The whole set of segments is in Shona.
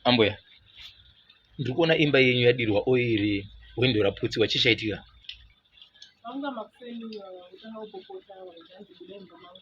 ambuya ndiri kuona imba yenyu yadirwa oiri hwindo raputsiwa chii chaitika vanga makuseni utanga kupopota vanhu zvanzi buda imba mangu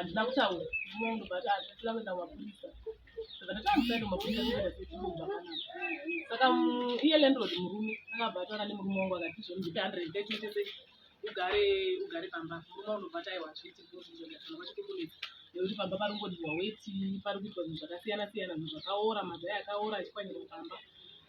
handina kutaura munhu but handisina kuenda kumapurisa saka ndatamusaenda kumapurisa zvienda sechiuba kana saka iye landlord murume akabva atanga nemurume wangu akati zvondipe hundred thirty tese ugare ugare pamba murume unobva taiwa zviti zvozvizvozvazvona vachikukunetsa nekuti pamba pari kungodiwa weti pari kuitwa zvinhu zvakasiyana siyana zvinhu zvakaora mazai akaora achikwanyirwa pamba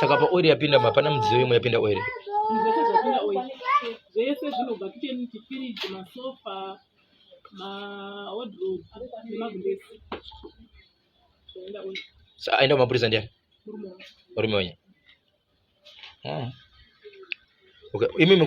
saka paoiri yapinda mapana mudziyo imwe yapinda oiri zvese zvinobva kicheni chifiriji masofa maodrop nemagulesi zvaenda oiri sa aenda kumapurisa ndiani murume wenye ah. okay imimi